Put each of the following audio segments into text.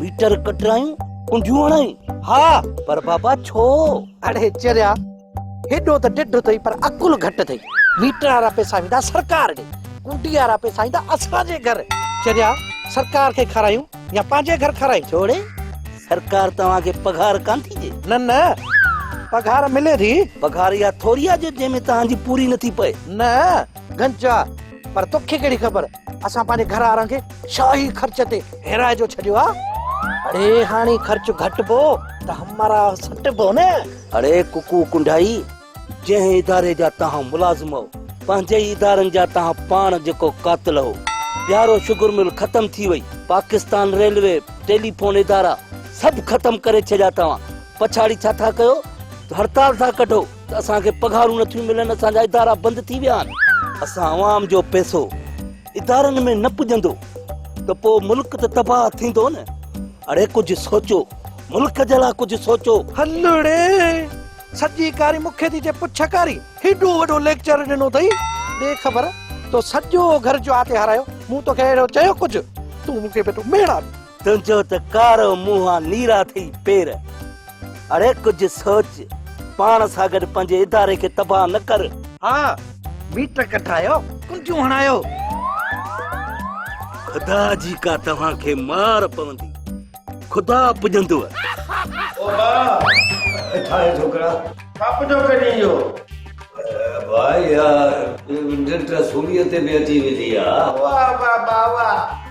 Metre ڪٽرايون ڪنڊيون هڻائين ها پر بابا ڇو اڙي چريا هيڏو ته ڊڍ اٿئي پر عقل گهٽ اٿئي ميٽر وارا پئسا ويندا سرڪار ڏي ڪنڊي وارا پئسا ايندا اسان جي گهر چريا سرڪار کي کارايون يا پنهنجي گهر کارايون ڇوڙي سرڪار توهان کي پگهار ڪان ٿي ڏي نه نه پگهار ملي ٿي پگهار اها ٿوري آهي جو جنهن ۾ توهان جي پوري نٿي پئي نه گهنچا پر توکي ڪهڙي خبر اسان پنهنجي گهر وارن کي شاهي خرچ تي هيرائي جو ڇڏيو آ اڙي هاڻي خرچ گهٽبو ته همارا سٽبو نه اڙي ڪڪو ڪنڊائي جنهن اداري جا توهان ملازم هو پنهنجي ئي ادارن جا توهان پاڻ جيڪو قاتل هو بيارو شگر مل ختم ٿي وئي پاڪستان ريلوي ٽيليفون ادارا سڀ ختم ڪري ڇڏيا توهان پڇاڙي ڇا ٿا ڪيو هڙتال ٿا ڪڍو اسان کي پگهارون نٿيون ملن اسان جا ادارا بند ٿي ويا آهن اسان عوام جو پئسو ادارن ۾ نه پڄندو ته پوء ملڪ ته تباهه ٿيندو نه اڙي ڪجهه سوچو ملڪ جي لاء ڪجهه سوچو هلڙي سڄي ڪاري مون کي ٿي چئي پڇ ڪاري هيڏو وڏو ليڪچر ڏنو اٿئي ڏي خبر تو سڄو گهر جو آتي هارايو مون توکي اهڙو چيو ڪجهه تون مون کي پيو ٿو ميڙا ڏين تنهنجو ته ڪارو منهن نيرا ٿئي پير. اڙي ڪجهه سوچ، پاڻ سان گڏ پنهنجي اداري کي تباهه نه ڪر. ها ميٽر ڪڍرايو، ڪنڊيون هڻايو. خدا جي ڪا توهان کي مار پوندي، خدا پڄندوء. او ڀاء ڪٿان اهي ڇوڪرا؟ ڇا پڇو ڪرين اهو؟ ڀاء اها ننڊ سوڙيء تي به اچي ويندي آ. واه واه ڀاء واه.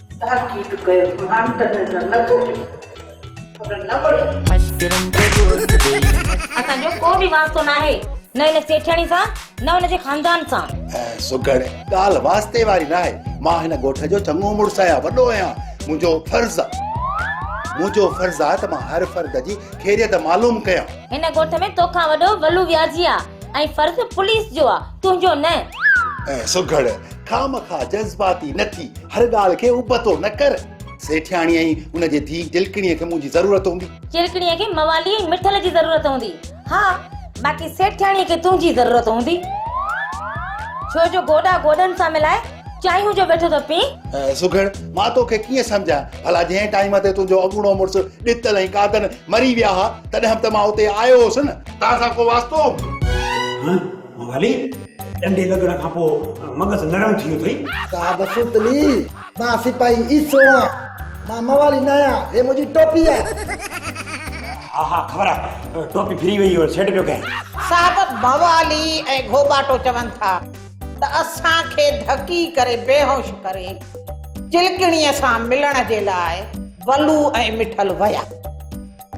تحقيق ڪيو مان تنهن سان نه ڪوٺيم پر نه وڙهيم. اسان جو ڪو به واسطو ناهي نه هن سيٺياڻي سان نه هن جي خاندان سان. سگهڙ، ڳالهه واسطي واري ناهي. مان هن ڳوٺ جو چڱو مڙس آهيان، وڏو آهيان. منهنجو فرض منهنجو فرض آهي ته مان هر فرد جي خيريت معلوم ڪيان. هن ڳوٺ ۾ تو کان وڏو ولو وياضي آهي ۽ فرض پوليس جو آهي، تنهنجو نه. سگهڙ، خامخا جذباتي نه ٿي، هر ڳالهه کي ابتو نه ڪر. سيٺياڻيء ۽ ان جي ڌيء جلڪڻيء کي منهنجي ضرورت هوندي. جلڪڻيء کي موالي ۽ مٺل جي ضرورت هوندي. ها، باقي سيٺياڻيء کي تنهنجي ضرورت هوندي. ڇو جو گوڏا گوڏن سان ملائي چانهيون جو ويٺو ٿو پئين. سگهڙ، مان توکي ڪيئن سمجهان؟ ڀلا جنهن ٽائيم تي تنهنجو اڳوڻو مڙس ڏتل ۽ قادن مري ويا ها، تڏهن به ته مان اتي آيو هوس نه. توهان سان ڪو واسطو هوندو. ڀلي، ڏنڊي لڳڻ کان پوء مغز نرم ٿي ويو اٿئي. صاحب سوتلي، مان سپاهي عيسو آهيان. مان موالي نه آهيان. هي منهنجي ٽوپي آهي. ها ها، خبر آهي. ٽوپي ڦري ويئي هو، سيٽ پيو ڪيائين. صاحب موالي ۽ گهوٻاٽو چون ٿا ته اسان کي ڌڪي ڪري بيهوش ڪري چلڪڻيء سان ملڻ جي لاء ولو ۽ مٺل ويا.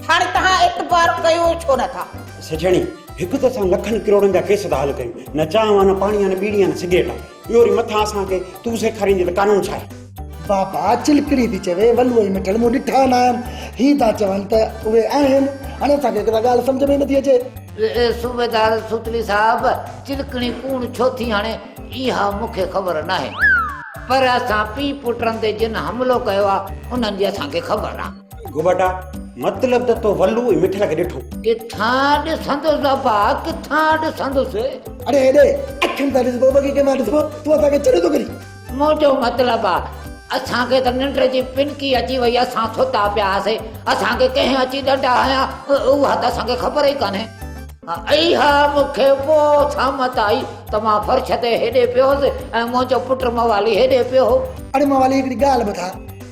هاڻي توهان اعتبار ڪيو ڇو نه ٿا؟ سجڻي، هڪ ته اسان لکن ڪروڙن جا ڪيس ٿا حل ڪيون، نه چانهه آ نه پاڻي آ نه ٻيڙي آ نه سگريٽ آ، اهو وري مٿان اسان کي تون سيکاريندين ته قانون ڇا آهي؟ بابا چلڪڙي ٿي چوي، ولوء ۽ مٺل مون ڏٺا ناهن، هي ٿا چون ته اهي آهن، هاڻي اسان کي هڪ ته ڳالهه سمجهه ۾ ئي نٿي اچي. اي صوبيدار سوتلي صاحب، چلڪڻي ڪوڻ ڇو ٿي هڻي، اها مون کي خبر ناهي، پر اسان پيء پٽن تي جن حملو ڪيو آ، انهن جي اسان کي خبر آ. گوباٽا مطلب ته تو ولو ۽ مٺل کي ڏٺو. ڪٿان ڏسندس ابا ڪٿان ڏسندس. اڙي ايڏي اکين سان ڏسبو بگي ڪنهن مان ڏسبو تون اسان کي چريو ٿو ڪرين. منهنجو مطلب آ اسان کي ته ننڊ جي پنڪي اچي وئي اسان ستا پيا هئاسين اسان کي ڪنهن اچي ڏنڊا هنيا اها ته اسان کي خبر ئي ڪانهي. اها مون کي پوء سامت آئي ته مان فرش تي هيڏي پيو هوس ۽ منهنجو پٽ موالي هيڏي پيو هو. اڙي موالي هڪڙي ڳالهه ٻڌاء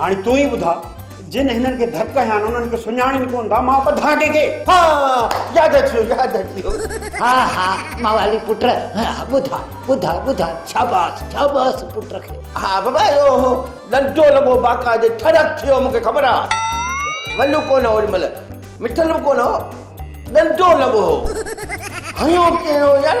هاڻي تون ئي ٻڌاء جن هنن کي ڌڪ هنيا آهن انهن کي سڃاڻين ڪونه ٿا مان ٻڌان ڪنهن کي ها ياد اچيو ياد اچيو ها ها موالي پٽ ٻڌاء ٻڌاء ٻڌاء شاباس شاباس پٽ کي ها بابا اهو هو لنڊو لڳو باقا جي ٺڙڪ ٿيو مونکي خبر آ ولو ڪونه هو ان مهل مٺل به ڪونه هو لنڊو لڳو هو هنيو ڪير هو يار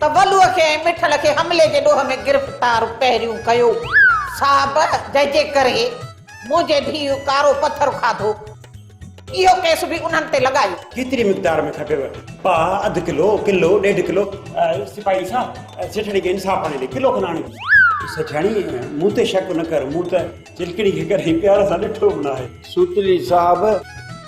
تبلو کي ۽ مٺل کي حملي جي ڏوهه ۾ گرفتار پهريون ڪيو. صاحب جنهن جي ڪري منهنجي ڌيء ڪارو پٿر کاڌو، اهو ڪيس به انهن تي لڳايو. ڪيتري مقدار ۾ کپيو؟ پاء، اڌ ڪلو، ڪلو، ڏيڍ ڪلو. سپاهي صاحب، سيٺاڻي کي انصاف آڻي ڏي، ڪلو کن آڻي ڏي. سيٺاڻي، مون تي شڪ نه ڪر، مون ته چلڪڻي کي ڪڏهن پيار سان ڏٺو به ناهي. سوتلي صاحب،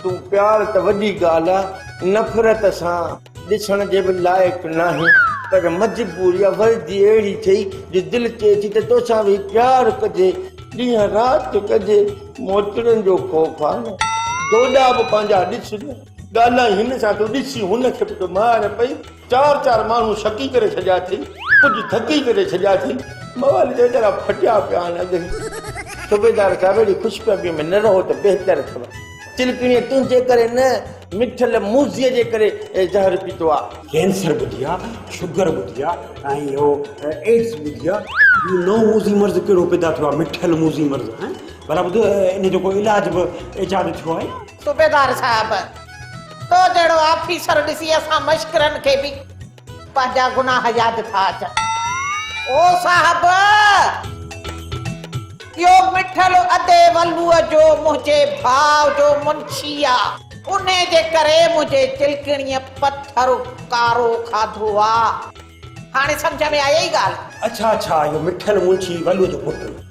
تون پيار ته وڏي ڳالهه آ، نفرت سان. ڏسڻ جي به لائق ناهي پر مجبور يا وردي اهڙي ٿئي جو دل چئي ٿي ته توسان ويهي پيار ڪجي ڏينهن رات ڪجي موچڙن جو خوف آ نه ڏوڏا به پنهنجا ڏس نه ڳالهائي هن سان ٿو ڏسي هن کي به ته مار پئي چار چار ماڻهو شڪي ڪري ڇڏيا ٿئي ڪجهه ٿڪي ڪري ڇڏيا ٿئي موال جي ويچارا ڦٽيا پيا آهن اڳ هي صوبيدار صاحب اهڙي خوش فهمي ۾ نه رهو ته بهتر اٿو. چلڪڻيء تنهنجي ڪري نه، مٺل موذيء جي ڪري زهر پيتو آ. ڪينسر ٻڌي آ، شگر ٻڌي آ ۽ اهو ايڊز ٻڌي آ. هي نئون موذي مرض ڪهڙو پيدا ٿيو آ، مٺل موذي مرض؟ هائين، ڀلا ٻڌ، ان جو ڪو علاج به ايجاد ٿيو آهي؟ صوبيدار صاحب، تو جهڙو آفيسر ڏسي اسان مشڪرن کي به پنهنجا گناهه ياد ٿا اچن او صاحب! اهو مٺل ادي ولوء جو منهنجي ڀاء جو منشي آ، انهي جي ڪري منهنجي چلڪڻيء پٿر ڪارو کاڌو آ. هاڻي سمجهه ۾ آيئي ڳالهه؟ اڇا اڇا، اهو مٺل منشي ولوء جو پٽ.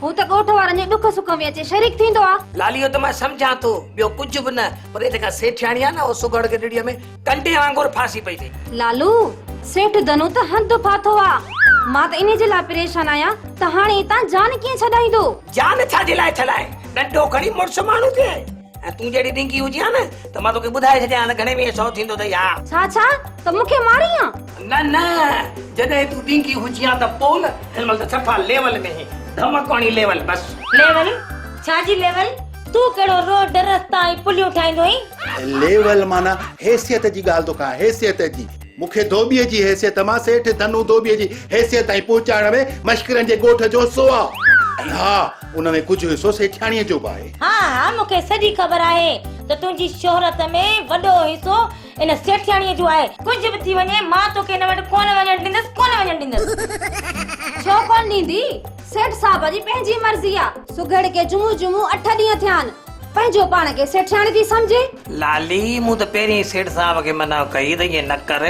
هو ته ڳوٺ وارن جي ڏک سک ۾ اچي شريڪ ٿيندو آ. لالي اهو ته مان سمجهان ٿو، ٻيو ڪجهه به نه، پر اها جيڪا سيٺياڻي آ نه، اها سگهڙ گڏڙيء ۾ ڪنڊي وانگر ڦاسي پئي ٿي. لالو، سيٺ ڌنو ته هنڌ ڦاٿو آ. مان ته انهي جي لاء پريشان آهيان ته هاڻي اتان جان ڪيئن ڇڏائيندو؟ جان ڇا جي لاء ڇڏائين؟ ڏنڊو کڻي مڙس ماڻهو ٿئي. ۽ تون جهڙي ڏينگي هجي ها نه ته مان توکي ٻڌائي ڇڏيان ها ته گهڻي ويهه سو ٿيندو اٿئي ها. ڇا ڇا ته مون کي مارين ها؟ نه نه جڏهن تون ڏينگي هجي ها ته پوء نه هن مهل ته صفا ليول ۾ هين ڌمڪوڻي ليول بس. ليول ڇا جي ليول تون ڪهڙو روڊ رستا ۽ پليون ٺاهيندو هين. ليول معنيٰ حيثيت جي ڳالهه ٿو ڪان حيثيت جي. مون کي ڌوٻيء جي حيثيت مان سيٺ ڌنو ڌوٻيء جي حيثيت تائين پهچائڻ ۾ مشڪرن جي ڳوٺ جو حصو آ ۽ ها ان ۾ ڪجهه حصو سيٺياڻيء جو به آهي. ها ها مون کي سڄي خبر آهي ته تنهنجي شهرت ۾ وڏو حصو ان سيٺياڻيء جو آهي. ڪجهه به ٿي وڃي مان توکي هن وٽ ڪونه وڃڻ ڏيندس ڪونه وڃڻ ڏيندس. ڇو ڪونه ڏيندي؟ سيٺ صاحب جي پنهنجي مرضي آ. سگهڙ کي جمعو جمعو اٺ ڏينهن ٿيا آهن. پنهنجو پاڻ کي سيٺياڻي ٿي سمجهي. لالي، مون ته پهرين ئي سيٺ صاحب کي منع ڪئي ته ائين نه ڪر،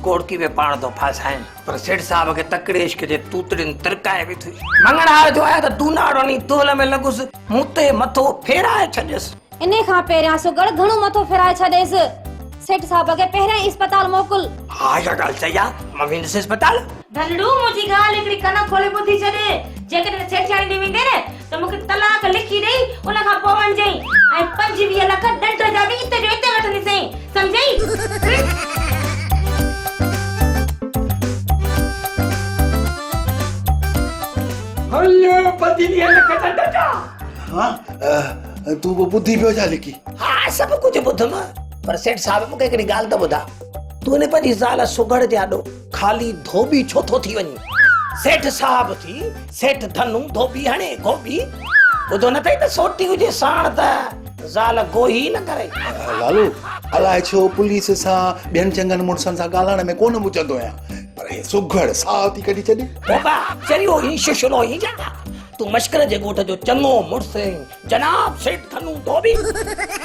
ڪوڙڪي ۾ پاڻ ٿو ڦاسائين. پر سيٺ صاحب کي تڪڙي عشق جي توتڙين ترڪائي وڌي. مڱڻهار جو آهيان ته دوناڙو ني دول ۾ لڳس، مون تي مٿو ڦيرائي ڇڏيس. انهي کان پهريان سگهڙ گهڻو مٿو ڦيرائي ڇڏيس. سيٺ صاحب کي پهريان ئي اسپتال موڪل. ها اها ڳالهه صحيح آ، مان ويندس اسپتال. ڌنڙو، منهنجي ڳالهه هڪڙي ڪن کولي ٻڌي ڇڏ، جيڪڏهن سيٺياڻي ڏي ويندين ته مون کي طلاق لکي ڏئي ان کان پوء وڃجئي ۽ پنجويهه لک ڏنڊ جا به اتي جو اتي وٺنديسين سمجهئي هنيو پنجويهه لک ڏنڊ جا ها تون به ٻڌي پيو ڇا لڪي ها سڀ ڪجهه ٻڌم پر سيٺ صاحب مون کي هڪڙي ڳالهه ته ٻڌاء تون هن پنهنجي زال سگهڙ جي آڏو خالي ڌوٻي ڇو ٿو ٿي وڃين. سيٺ صاحب ٿي سيٺ ڌنو ڌوٻي هڻي گوبي. ٻڌو نه اٿئي ته سوٽي هجي ساڻ ته زال گوهي ئي نه ڪري. لالو الاء ڇو پوليس سان ٻين چڱن مڙسن سان ڳالهائڻ ۾ ڪونه مچندو آهيان پر هي سگهڙ ساهه ٿي ڪڍي ڇڏي. بابا چريو هين ششلو هين جا تون مشڪل جي ڳوٺ جو چڱو مڙس هين جناب سيٺ ڌنو ڌوٻي.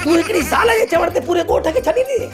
تون هڪڙي زال جي چوڻ تي پوري ڳوٺ کي ڇڏي ڏنين.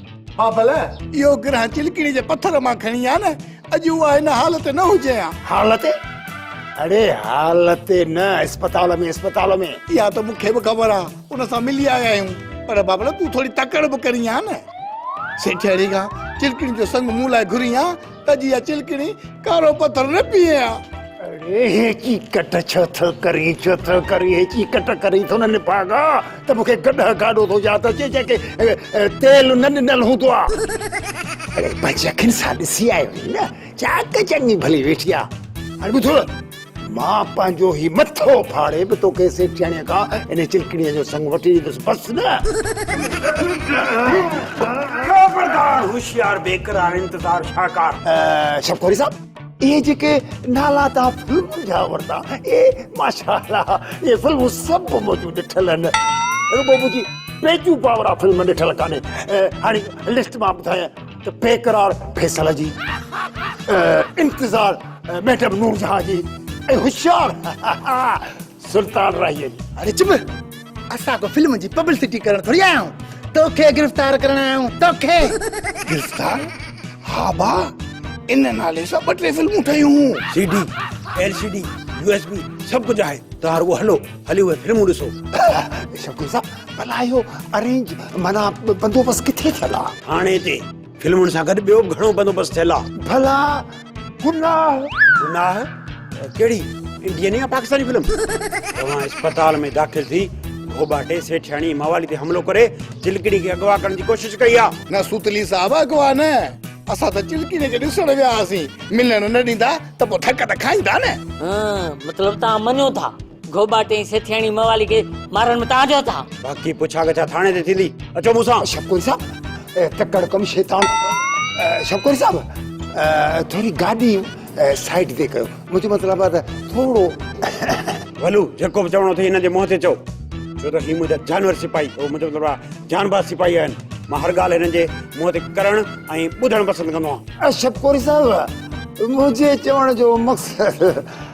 بافل، اهو گرهه چلڪڙي جي پٿر مان کڻي آ نه، اڄ اها هن هال تي نه هجي ها. هال تي؟ اڙي هال تي نه، اسپتال ۾ اسپتال ۾. اها ته مون کي به خبر آ، ان سان ملي آيا آهيون. پر بافل، تون ٿوري تڪڙ به ڪرين ها نه. سيٺياڻي کان چلڪڙين جو سڱ مون لاء گهرين ها؟ ته جيئن چلڪڻي ڪارو پٿر نه پيئي ها. اڙي هي چيڪٽ ڇو ٿو ڪرين ڇو ٿو ڪرين هي چيڪٽ ڪرين ٿو نه نڀاڳا ته مون کي گڏهه گاڏو ٿو ياد اچي جنهن کي تيل نه ڏنل هوندو آ اڙي پنهنجي اکين سان ڏسي آيو آهين نه چاڪ چڱي ڀلي ويٺي آ هاڻي ٻڌ مان پنهنجو هي مٿو ڦاڙي به توکي سيٺياڻيء کان انهيء چلڪڻيء جو سڱ وٺي ڏيندس، بس نه! خبردار! هوشيار، بيقرار، انتظار، شاهڪار. شوڪاري صاحب، اهي جيڪي نالا توهان فلمن جا ورتا، اهي ماشاء الله اهي فلمون سڀ منهنجون ڏٺل آهن. رڳو منهنجي پنهنجون پاورا فلم ڏٺل ڪانهي. هاڻي لسٽ مان ٻڌايانء. ته بيقرار فيصل جي انتظار ميڊم نورجهان جي ۽ هوشيار سلطان راهيء جي. اڙي چپ! اسان ڪو فلم جي پبلسٽي ڪرڻ ٿوري آيا آهيون. توکي گرفتار ڪرڻ آيا آهيون. توکي! گرفتار؟ ها ڀاء، ان نالي سان ٻه ٽي فلمون ٺهيون هيون. C D, L C D, U S B سڀ ڪجهه آهي. توهان رڳو هلو، هلي اهي فلمون ڏسو. شوقين صاحب! ڀلا اهو ارينج معنيٰ بندوبست ڪٿي ٿيل آ؟ ٿاڻي تي فلمن سان گڏ ٻيو به گهڻو بندوبست ٿيل آ. ڀلا گناهه؟ گناهه؟ ڪهڙي انڊين يا پاڪستاني فلم؟ توهان اسپتال ۾ داخل ٿي گهوٻاٽي سيٺياڻي موالي تي حملو ڪري چلڪڻي کي اغوا ڪرڻ جي ڪوشش ڪئي آ. نه سوتلي صاحب اغوا نه اسان ته چلڪڻي کي ڏسڻ ويا هئاسين ملڻ نه ڏيندا ته پوء ڌڪ ته کائيندا نه. هه مطلب توهان مڃو ٿا. گهوٻا ٽئين سيٺياڻي موالي کي مارڻ ۾ تهان جو هٿ آ. باقي پڇا ڳڇا ٿاڻي تي ٿيندي. اچو مون سان. شڪوري صاحب تڪڙ ڪم شيطان. شڪوري صاحب ٿوري گاڏي سائيڊ تي ڪيو منهنجو مطلب آ ته ٿورو. ولو جيڪو به چوڻو اٿئي هنن جي منهن تي چئو ڇو ته هي منهنجا جانور سپاهي اٿئي منهنجو مطلب آ جانباز سپاهي آهن مان هر ڳالهه هنن جي منهن تي ڪرڻ ۽ ٻڌڻ پسند ڪندو آهيان. شڪوري صاحب منهنجي چوڻ جو مقصد.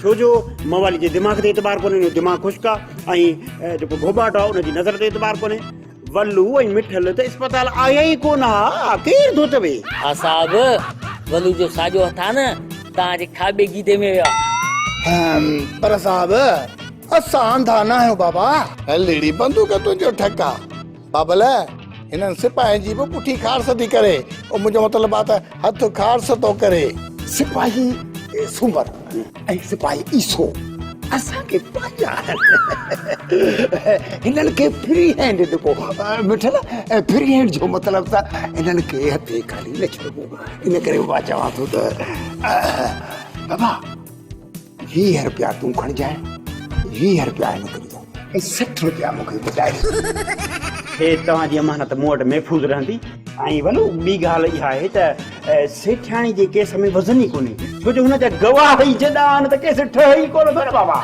ڇو جو موالي جي دماغ تي اعتبار ڪونهي ان جو دماغ خشڪ آ ۽ جيڪو گهوٻاٽو آ ان جي نظر تي اعتبار ڪونهي ولو ۽ مٺل ته اسپتال آيا ئي ڪونه ها آ ڪير ٿو چوي. ها صاحب ولو جو ساڄو هٿ آ نه توهان جي کاٻي گيدي ۾ ويو آ. هم پر صاحب اسان انڌا ناهيون بابا. هل اڙي بندوق تنهنجو ٺڪ آ. بابل، هنن سپاهين جي به پٺي کارس ٿي ڪري. او منهنجو مطلب آ ته هٿ کارس ٿو ڪري. سپاهي سومر ۽ سپاهي عيسو اسان کي پنهنجا آهن. هنن کي فري هينڊ ڏبو. مٺل، فري هينڊ جو مطلب ته هنن کي هٿي خالي نه ڇڏبو. ان ڪري مان چوان ٿو ته بابا! ويهه رپيا تون کڻجانء ويهه رپيا هن کي ڏجانء ۽ سٺ رپيا مون کي ٻڌائي هي توهان جي امانت مون وٽ محفوظ رهندي. ۽ ولو ٻي ڳالهه اها آهي ته سيٺياڻي جي ڪيس ۾ وزن ئي ڪونهي ڇو جو هن جا گواهه ئي جڏا آهن ته ڪيس ٺهي ئي ڪونه ٿو نه بابا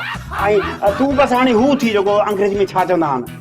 ۽ تون بس هاڻي هو ٿي جيڪو انگريزي ۾ ڇا چوندا آهن.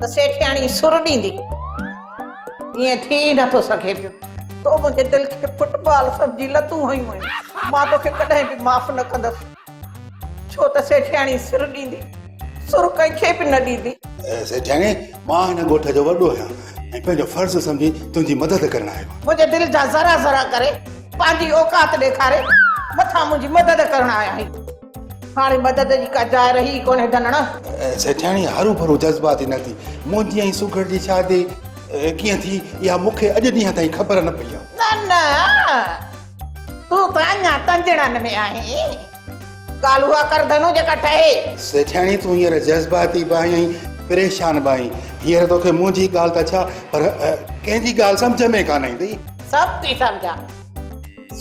ته سيٺياڻي سر ڏيندي، ائين ٿي ئي نٿو سگهي پيو. تو منهنجي دل کي فٽ بال سمجهي لتون هنيون آهن، مان توکي ڪڏهن به معاف نه ڪندس. ڇو ته سيٺياڻي سر ڏيندي، سر ڪنهن کي به نه ڏيندي. سيٺياڻي، مان هن ڳوٺ جو وڏو آهيان ۽ پنهنجو فرض سمجهي تنهنجي مدد ڪرڻ آيو آهيان. منهنجي دل جا ذرا ذرا ڪري، پنهنجي اوقات ڏيکاري، مٿان منهنجي مدد ڪرڻ آيا آهين. هاڻي مدد جي ڪا جاء رهي ئي ڪونهي ڌنڻ. سيٺياڻي هرو ڀرو جذباتي نه ٿي. منهنجي ۽ سگهڙ جي شادي ڪيئن ٿي اها مون کي اڄ ڏينهن تائين خبر نه پئي آهي. نه نه تون ته اڃا تنجڻن ۾ آهين. ڳالهه اها ڪر ڌنو جيڪا ٺهي. سيٺياڻي تون هينئر جذباتي به آهين ۽ پريشان به آهين. هينئر توکي منهنجي ڳالهه ته ڇا پر ڪنهن جي ڳالهه سمجهه ۾ ڪانه ايندئي. سڀ ٿي سمجهان.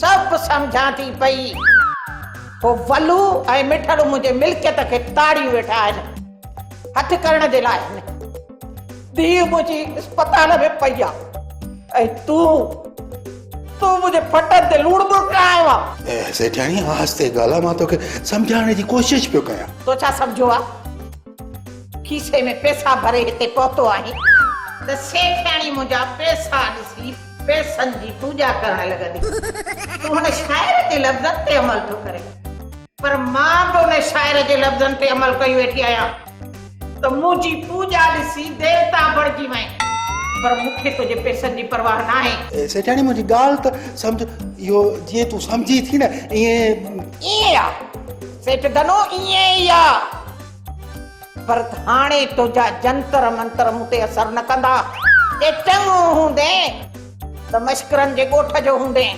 سڀ سمجهان ٿي پئي. هو ولو ۽ مٺڙو منهنجي ملڪيت کي تاڙيون ويٺا آهن. هٿ ڪرڻ جي لاء آهن. ڌيء منهنجي اسپتال ۾ پئي آ ۽ تون تون منهنجي ڦٽن تي لوڻ مرڪ هنيو آ. سيٺياڻي آهستي ڳالهاء مان توکي سمجهائڻ جي ڪوشش پيو ڪيان. تو ڇا سمجهيو آ؟ کيسي ۾ پيسا ڀري هتي پهتو آهين. ته سيٺياڻي منهنجا پيسا ڏسي پئسن جي پوڄا ڪرڻ لڳندي. تون هن شاعر جي لفظن تي عمل ٿو ڪرين. پر مان به ان شاعر جي لفظن تي عمل ڪيو ويٺي آهيان ته منهنجي پوڄا ڏسي ديوتا بڻجي وئين. پر مون کي تنهنجي پئسن جي پرواهه ناهي. سيٺاڻي منهنجي ڳالهه ته سمجهه. اهو جيئن تون سمجهين ٿي نه ائين. ائين ئي آ سيٺ ڌنو ائين ئي آ. پر هاڻي تنهنجا جنتر منتر مون تي اثر نه ڪندا. جي چڱو هوندين ته مشڪرن جي ڳوٺ جو هوندين.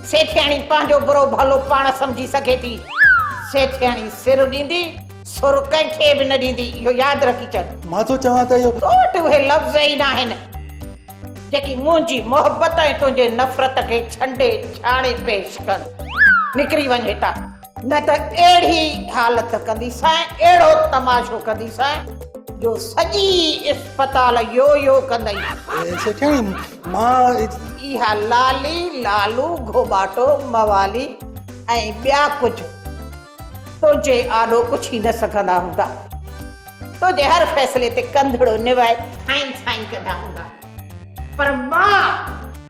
سيٺياڻي پنهنجو برو ڀلو پاڻ سمجهي سگهي ٿي. سيٺياڻي سر ڏيندي، سر ڪنهن کي به نه ڏيندي، اهو ياد رکي ڇڏ. مان ٿو چوان ته اهو. تو وٽ اهي لفظ ئي ناهن، جيڪي منهنجي محبت ۽ تنهنجي نفرت کي ڇنڊي ڇاڻي پيش ڪن. نڪري وڃ هتان. نه ته اهڙي حالت ڪنديسانء، اهڙو تماشو ڪنديسانء جو سڄي اسپتال يو يو ڪندئي. سيٺياڻي، مان. اها لالي، لالو، گهوٻاٽو، موالي ۽ ٻيا ڪجهه تنهنجي آڏو پڇي نه سگهندا هوندا. تنهنجي هر فيصلي تي ڪنڌڙو نوائي سائين سائين ڪندا هوندا. پر مان.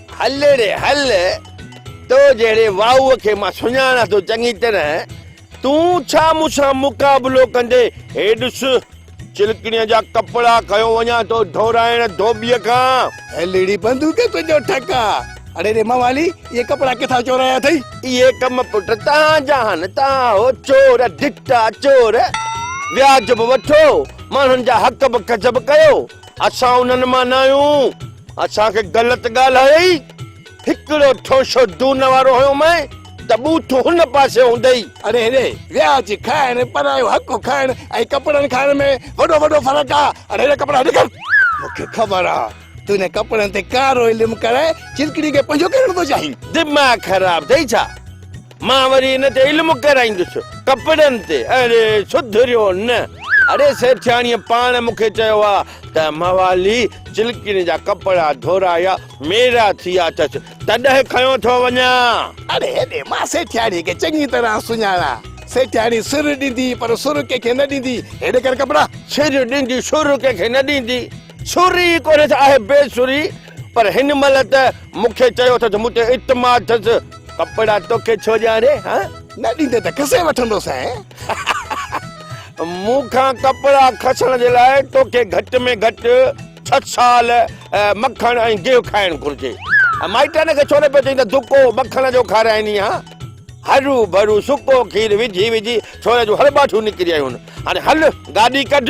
هل ري هل، تو جهڙي واء کي مان سڃاڻان ٿو چڱي طرح، تون ڇا مون سان مقابلو ڪندين؟ هي ڏس، چلڪڻيء جا ڪپڙا کنيو وڃان ٿو ڌورائڻ ڌوٻيء کان. هل ري بندوق تنهنجو ٺڪا. اڙي ري موالي، اهي ڪپڙا ڪٿان چورايا اٿئي؟ اهي ڪم پٽ توهان جا آهن، توهان هو چور، ڊٽا چور. وياج به وٺو، ماڻهن جا حق به ڪذب ڪيو. اسان انهن مان نه آهيون، اسان کي غلط ڳالهايئي، هڪڙو ٺونشو دون وارو هنيو مئين ته ٻوٿ هن پاسي هوندئي. اڙي هيڏي ويا اچي کائڻ، پرايو حق کائڻ ۽ ڪپڙن کائڻ ۾ وڏو وڏو فرق آ، اڙي هيڏا ڪپڙا هيڏي ڪر. مون کي خبر آ، تون انهن ڪپڙن تي ڪارو علم ڪرائي چلڪڙي کي پنهنجو ڪرڻ ٿو چاهين. دماغ خراب اٿئي ڇا؟ مان وري ان تي علم ڪرائيندس. ڪپڙن تي. اري سڌريو نه. اڙي سيٺياڻيء پاڻ مون کي چيو آ ته موالي چلڪين جا ڪپڙا ڌورايا ميرا ٿي آ اٿس تڏهن کنيو ٿو وڃان. اڙي اڙي مان سيٺياڻيء کي چڱي طرح سڃاڻان. سيٺياڻي سر ڏيندي پر سر ڪنهن کي نه ڏيندي. هي ڏي ڪر ڪپڙا. سر ڏيندي سر ڪنهن کي نه ڏيندي. سر ئي ڪونهيس آهي بي سري. پر هن مهل ته مون کي چيو اٿس، مون تي اعتماد اٿس، ڪپڙا توکي ڇو ڏيان ري ها؟ نه ڏيندين ته کسي وٺندو سائين. مون کان ڪپڙا کسڻ جي لاء توکي گهٽ ۾ گهٽ ڇهه سال مکڻ ۽ گيهه کائڻ گهرجي. مائٽن کي ڇو نه پيو چئين ته دڪو مکڻ جو کارائيني ها؟ هرو ڀرو سڪو کير وجهي وجهي ڇوري جون هڙٻاٺيون نڪري آيون. هاڻي هل گاڏي ڪڍ.